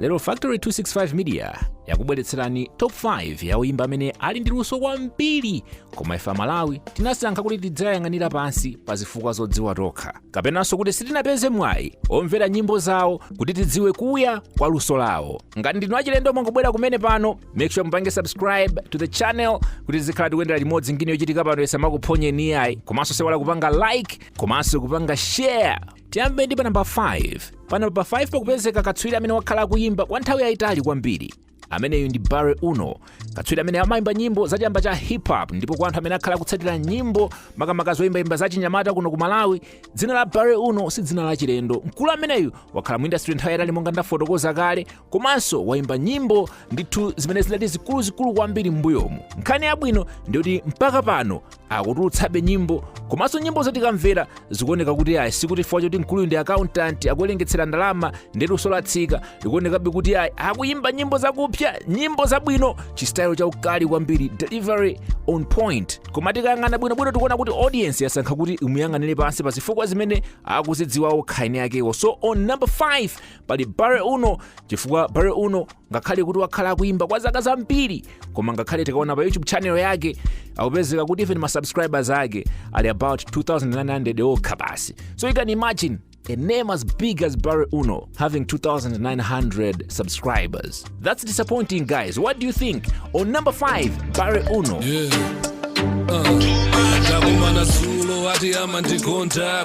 lero factory 265 media yakubweretserani top 5 ya oyimba amene ali ndi luso kwambiri koma ife amalawi tinasankha kuti tiziayang'anira pansi pa zifukwa zodziwa tokha kapenanso kuti sitinapeze mwayi omvera nyimbo zawo kuti tidziwe kuya kwa luso lawo ngati ndinu achilendo mwangobwera kumene pano make sure mupange subscribe to the channel kuti tizikhala tikuyendera limodzi ngini yochitika pano isamakuphonyeni iyayi komanso osayiwala kupanga like komanso kupanga share tiyambe ndi pa namba 5 pa namba 5 pakupezeka katswiri amene wakhala akuyimba kwa nthawi yayitali kwambiri ameneyu ndi barry uno katswiri amene amayimba nyimbo za chamba cha hip hop ndipo kwa anthu amene akhala akutsatira nyimbo makamaka zoyimbayimba za chinyamata kuno ku malawi dzina la barry uno si dzina la chilendo mkulu ameneyu wakhala mu industry nthawi yayitali monga ndafotokoza kale komanso wayimba nyimbo ndithu zimene zidali zikuluzikulu kwambiri m'mbuyomu nkhani yabwino ndiyoti mpaka pano akutulutsabe nyimbo komanso nyimbo zotikamvera zikuoneka kuti ayi sikuti chifukwa choti mkuluyu ndi akauntanti akuwerengetsera ndalama ndiye kuti luso latsika likuonekabe kuti ayi akuyimba nyimbo zakupsa nyimbo zabwino chistayilo chaukali kwambiri delivery on point koma tikayang'ana bwinobwino tikuona kuti audience yasankha kuti imuyang'anire pansi pa zifukwa zimene akuzidziwa okha eni akewo so on number 5 pali barry uno chifukwa barry uno ngakhale kuti wakhala akuimba kwa zaka zambiri koma ngakhale tikaona pa youtube channel yake akupezeka kuti even ma subscribers ake ali about 2900 okha basi so you can imagine a name as big as Barry Uno having 2,900 subscribers. That's disappointing, guys. What do you think? On number five, Barry Uno. ndakumana zulo ati amandikonda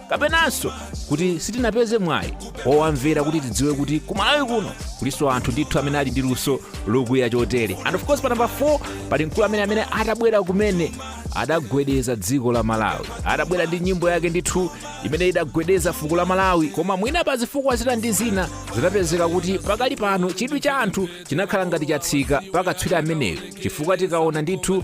kapenanso kuti sitinapeze mwayi owamvera kuti tidziwe kuti kumalawi kuno kulinso anthu ndithu amene ali ndi luso lokuya chotere and of course pa namba 4 pali mkulu amene amene atabwera kumene adagwedeza dziko la malawi adabwera ndi nyimbo yake ndithu imene idagwedeza fuko la malawi koma mwina pa zifukwa zina ndi zina zinapezeka kuti pakali pano chidwi cha anthu chinakhala ngati chatsika pakatswiri ameneyo chifukwa tikaona ndithu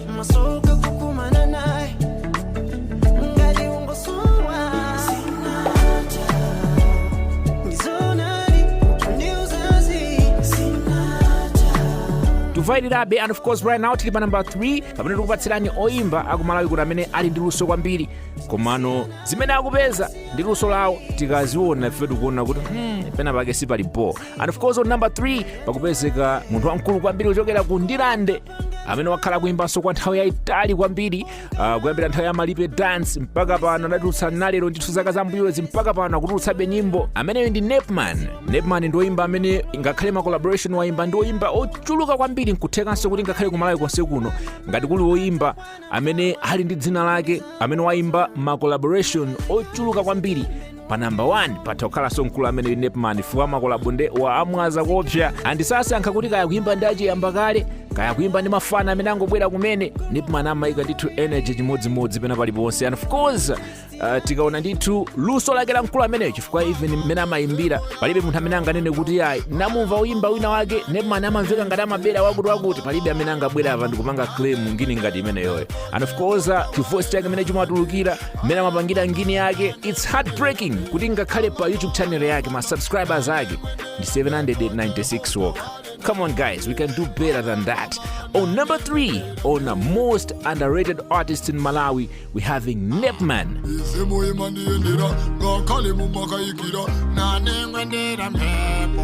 masoka kukumana naye ngali ungosowa sinata ndizonari ndiuzazi sinata tuvailirabe and of course right now tili pa namba 3 pamene tikupatsirani oyimba akumalawi kuti amene ali ndi luso kwambiri komano zimene akupeza ndi luso lawo tikaziona ife tikuona kuti hmm, pena pake sipali bo and of course on number 3 pakupezeka munthu wamkulu kwambiri kuchokera ku ndirande amene wakhala akuimbanso kwa nthawi yayitali kwambiri uh, kuyambira nthawi ya malipe dance mpaka pano adatulutsa nalero ndithu zaka zammbuyozi mpaka pano akutulutsabe nyimbo ameneyo ndi nepman nepman ndi oyimba amene ngakhale ma collaboration wayimba ndi oyimba ochuluka kwambiri nkuthekanso kuti ngakhale kumalawi konse kuno ngati kuli oyimba amene ali ndi dzina lake amene wayimba ma collaboration ochuluka kwambiri pa namba 1 patha kukhalanso mkulu amene nepman fukwa makolabo nde waamwaza kopsa andi sasankha kuti kaya kuimba ndi achiyamba kale kaya kuimba ndi mafana amene angobwera kumene nepman amayika ndithu energy chimodzimodzi pena paliponse and of course uh, tikaona ndithu luso lake la mkulu ameneyo chifukwa even mmene amayimbira palibe munthu amene anganene kuti ayi namumva uyimba wina wake nepman amamveka ngati amabera wakuti wakuti palibe amene angabwera apa ndikupanga claim ngini ngati imeneyoyo and of course uh, chivoice chake mmene chimatulukira mmene amapangira ngini yake it's heartbreaking kuti ngakhale pa youtube channel yake ma subscribers ake ndi 796 wokha come on guys we can do better than that on number 3 on a most underrated artist in malawi we having nepman isemo imandiyendera ngakhale mumakayikira nanengwendera mphepo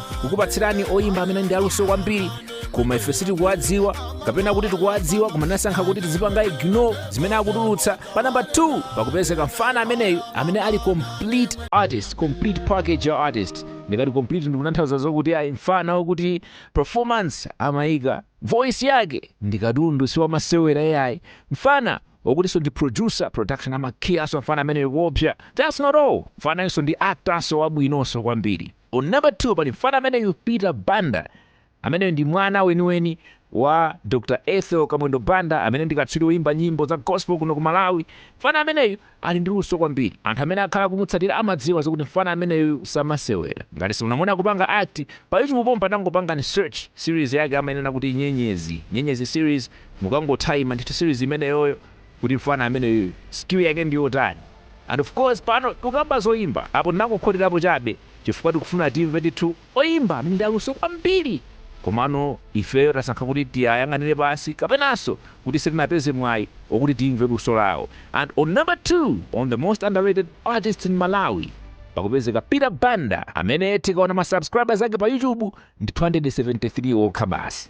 kukupatsirani oyimba amene ndi aluso kwambiri koma ife sitikuwadziwa kapena kuti tikuwadziwa koma tinasankha kuti tizipanga ignore zimene akutulutsa pa namba 2 pakupezeka mfana ameneyu amene ali complete artist complete package ya artist ndikati complete ndikutanthauza zokuti ayi mfana wokuti performance amayika voice yake ndikatundu siwamasewera yayi mfana wokutinso ndi producer production amakhiyaso mfana ameneyo kuopsa that's not all mfanayonso ndi actorso wabwinonso kwambiri On number 2 pali mfana ameneyu Peter Banda ameneyo ndi mwana weniweni wa Dr Ethel Kamwendo Banda amene ndi katswiri woyimba nyimbo za gospel kuno ku Malawi. Mfana ameneyu ali ndi luso kwambiri. Anthu amene akhala akumutsatira amadziwa zokuti mfana ameneyu samasewera. Ngati simunamuone akupanga act, pa YouTube pompa tangopangani search series yake amainena kuti Nyenyezi, Nyenyezi series, mukangothaima ndithu series imeneyoyo, kuti mfana ameneyuyu skill yake ndiyotani and of course pano tikukamba zoimba apo tinangokhoterapo chabe chifukwa tikufuna timve ndithu oimba amene ndi aluso kwambiri komano ifeyo tasankha kuti tiayang'anire pansi kapenanso kuti sitinapeze mwai okuti timve luso lawo and on number 2 on the most underrated artist in Malawi pakupezeka Peter Banda amene tikaona ma subscribers ake pa YouTube ndi 273 okha basi.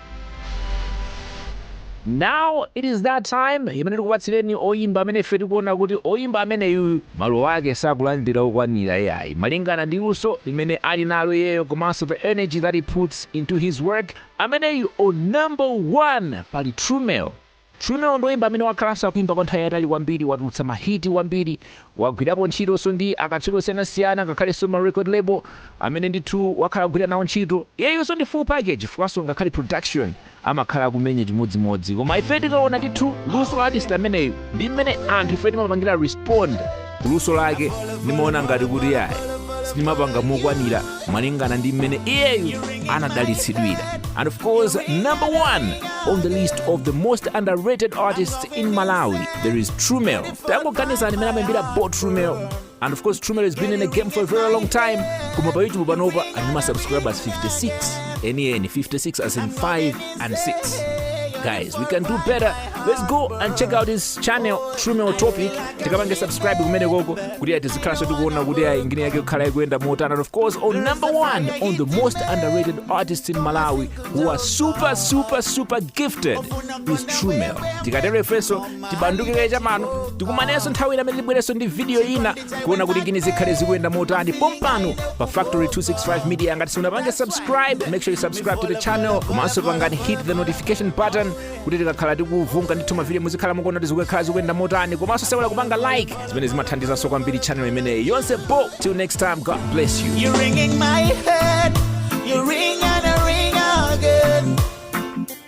Now it is that time imene tikupatsireni oyimba amene ife tikuona kuti oyimba ameneyuyu malo ake sakulandira okwanira iyayi malingana ndi luso limene ali nalo iyeyo komanso the energy that he puts into his work ameneyu on number one pali Trumel Trumel ndi oyimba amene wakhalanso akuimba kwa nthawi yayitali kwambiri, watulutsa ma hit kwambiri, wagwirapo ntchitonso ndi akatswiri osiyanasiyana ngakhalenso ma record label amene ndithu wakhala akugwira nawo ntchito. Iyeyunso ndi full package chifukwanso ngakhale production amakhala akumenya chimodzimodzi koma ife tikaona ndithu luso la artist ameneyu ndi mmene anthu ife timapangira respond, luso lake ndimaona ngati kuti yayi simmapanga mokwanira malingana ndi mmene iyeyu anadalitsidwira and of course number one on the list of the most underrated artists in malawi there is trumel tangoganizani mmene amaimbira bo trumel and of course trumel has been in the game for a very long time koma pa youtube panopa ali ndi masubscribers 56 enieni 56 as in 5 and 6 guys we can do better let's go and check out his channel trumel topic tikapange subscribe kumene koko kuti a tizikhalanso tikuona kuti ayi ngini yake kukhala ikuyenda motani and of course on number one on the most underrated artists in malawi who are super super super gifted is trumel tikatero ifenso tibandukire chapano tikumanenso nthawi ina imene tibwerenso ndi video ina kuona kuti ngini zikhale zikuyenda motani pompano pa factory 265 media ngati simunapange subscribe make sure you subscribe to the channel komanso pangani hit the notification button kuti tikakhala tikuvunga ndithu mavidiyo muzikhala mukuona kuti zikukhala zikuyenda motani komanso osaiwala kupanga like zimene zimathandizanso kwambiri channel imeneyi yonse bo till next time god bless you You're ringing my head. You ring and I ring again.